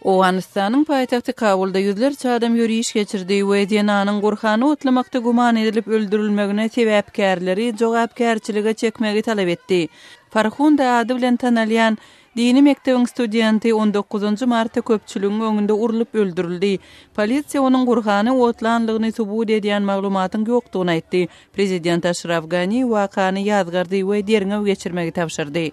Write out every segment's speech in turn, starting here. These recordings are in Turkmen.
Owganystanyň paýtagty Kabulda ýüzlerçe adam ýöriş geçirdi we zenanyň Gurhany otlamakda güman edilip öldürilmegine sebäpkärleri jogapkärçilige çekmegi talap etdi. Farhunda ady bilen tanalýan Dini mekdebiň studenti on dokuzynjy martda köpçüligiň öňünde urlup öldürildi. Polisiýa onuň Gurhany otlanlygyny subut edýän maglumatyň ýokdugyny aýtdy. Prezident Aşraf Gani wakany ýazgardy we derňew geçirmegi tabşyrdy.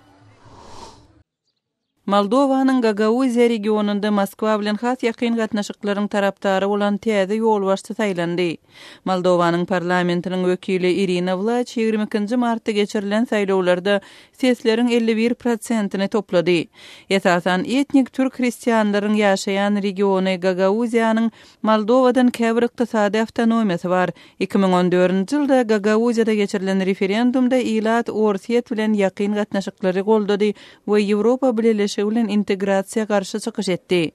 Moldowanyň Gagauziýa regionynda Moskwa bilen has ýakyn gatnaşyklaryň tarapdary bolan täze ýolbaşçy saýlandy. Moldowanyň parlamentiniň wekili Irina Wlaç ýigrimi ikinji martda geçirilen saýlawlarda sesleriň elli bir prosentini toplady. Esasan, etnik türk hristianlaryň ýaşaýan regiony Gagauziýanyň Moldowadan käbir ykdysady awtonomiýasy bar. Iki müň on dördünji ýylda Gagauziýada geçirilen referendumda ilat Orsýet bilen ýakyn gatnaşyklary goldady we Ýewropa Bileleşigi bilen integrasiýa garşy çykyş etdi.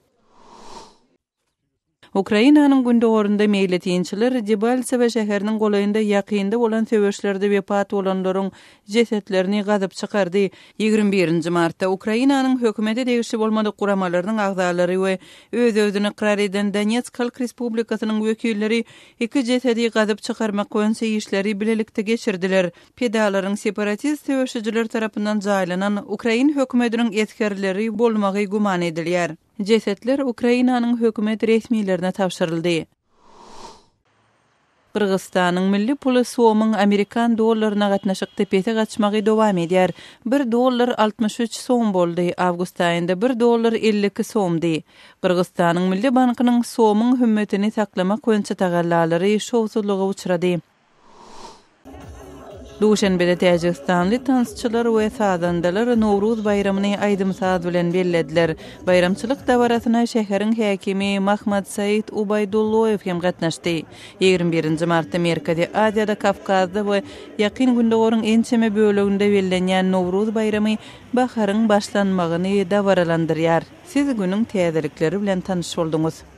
Ukrainanyň gündogarynda meýletinçiler Debaltsewo şäheriniň golaýynda ýakynda bolan söweşlerde wepat bolanlaryň jesetlerini gazyp çykardy. Ýigrimi birinji martda Ukrainanyň hökümete degişli bolmadyk guramalarynyň agzalary we öz-özüni ykrar eden Donetsk halk respublikasynyň wekilleri iki jesedi gazyp çykarmak boýunça işleri bilelikde geçirdiler. Pidalaryň separatist söweşijiler tarapyndan jaýlanan ukrain hökümediniň esgerleri bolmagy güman edilýär. Jesetler Ukrainanyň hökümet resmilerine tabşyryldy. Gyrgyzystanyň milli puly somyň amerikan dollaryna gatnaşykda pese gaçmagy dowam edýär. Bir dollar altmyş üç som boldy, awgust aýynda bir dollar elli iki somdy. Gyrgyzystanyň Milli bankynyň somyň hümmetini saklamak boýunça tagallalary şowsuzlyga uçrady. Duşenbede täjigistanly tansçylar we sazandalar Nowruz baýramyny aýdym-saz bilen bellediler. Baýramçylyk dabarasyna şäheriň häkimi Mahmadsaid Ubaýdulloýew hem gatnaşdy. Ýigrimi birinji martda Merkezi Aziýada, Kawkazda we Ýakyn Gündogaryň ençeme böleginde bellenýän Nowruz baýramy baharyň başlanmagyny dabaralandyrýar. Siz günüň täzelikleri bilen tanyş bolduňyz.